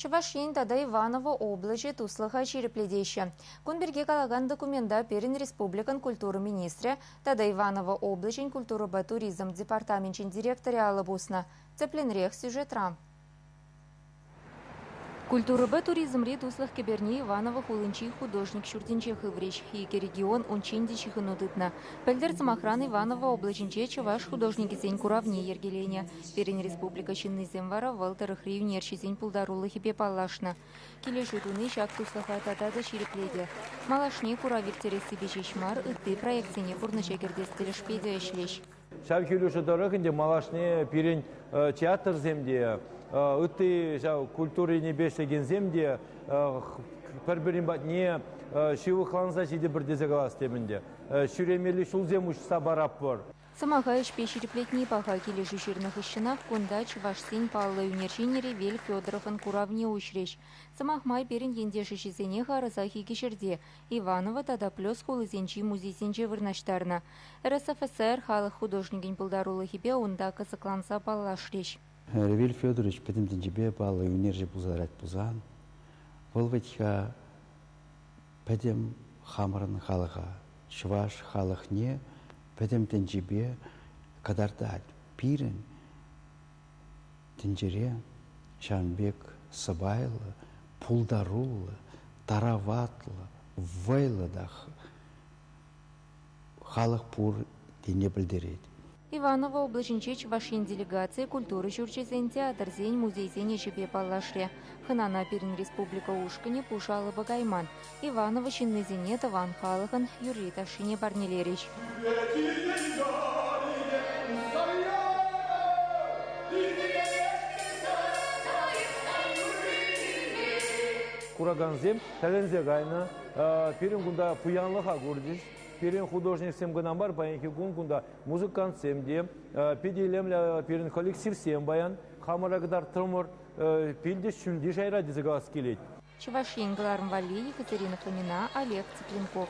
Чӑваш Ен тата Иваново облаҫӗ туслӑха ҫирӗплетеҫҫӗ. Кун пирки калакан документа пирӗн республикӑн культура министрӗ тата Иваново облаҫӗн культурӑпа туризм департаменчӗн директорӗ алӑ пуснӑ. Тӗплӗнрех сюжетра. Культурӑпа туризмри туслӑх кӗперне Иваново хулинчи художник ҫуртӗнче хыврӗҫ. Икӗ регион унччен те ҫыхӑну тытнӑ. Пӗлтӗр, сӑмахран, Иваново облаҫӗнче чӑваш художникӗсен куравне йӗркеленӗ. Пирӗн республика ҫыннисем вара вӑл тӑрӑхри ӳнерҫӗсен пултарулӑхӗпе паллашнӑ. Килӗшӳ туни ҫак туслӑха тата та ҫирӗплетӗ. Малашне курав ирттерессипе ҫеҫ мар, ытти проектсене пурнӑҫа кӗртес тӗлӗшпе те ӗҫлӗҫ. Ҫав килӗшӳ тӑрӑх ӗнтӗ малашне пирӗн театрсем те, ытти ҫав культурине ӗҫлекенсем те пӗр-пӗрин патне ҫывӑхланса ҫитӗпӗр тесе калас тем ӗнтӗ. Ҫӳремелли ҫулсем уҫса паратпӑр. Сӑмаха ӗҫпе ҫирӗплетни паха. Килӗшӳ ҫырнӑ хыҫҫӑнах кунта чӑвашсен паллӑ ӳнер ҫине Ревель Федоровӑн куравне уҫрӗҫ. Сӑмах май, пирӗн ентеш ӗҫӗсене харӑсах икӗ ҫӗрте, Иваново тата Плес хулисенчи музейсенче вырнаҫтарнӑ. РСФСР халӑх художникӗн пултарулӑхӗпе унта кӑсӑкланса паллашрӗҫ. Ревель Федорович пӗтӗм тӗнчепе паллӑ ӳнерҫӗ пулса тӑрать пулсан, вӑл вӗт-ха Пӗтӗм хамӑрӑн халӑха, чӑваш халӑхне пӗтӗм тӗнчипе кӑтартать. Пирӗн тӗнчере ҫавӑн пек сӑпайлӑ, пултаруллӑ, тараватлӑ, вӑйлӑ та халӑх пур тени пӗлтерет. Иваново облаҫӗнчи Чӑваш Ен делегацийӗ культура ҫурчӗсен, театрсен, музейсен ӗҫӗпе паллашрӗ. Хӑнана пирӗн республика ушкӑнӗ пуш алӑпа кайман. Иваново ҫыннисене тӑван халӑхӑн юрри-ташшине парнелерӗҫ. Куракансем тӗлӗнсе кайнӑ. Пирӗн кунта пуянлӑха курчӗҫ. Пирӗн художниксем кӑна мар, паянхи кун кунта музыкантсем те, питӗ илемлӗ пирӗн коллективсем паян. Хамӑра кӑтартрӑмӑр, пилтӗш ҫӳлти шайра тесе калас килет. Чӑваш Ен кӑларӑм валли Екатерина Фомина, Олег Цыпленков.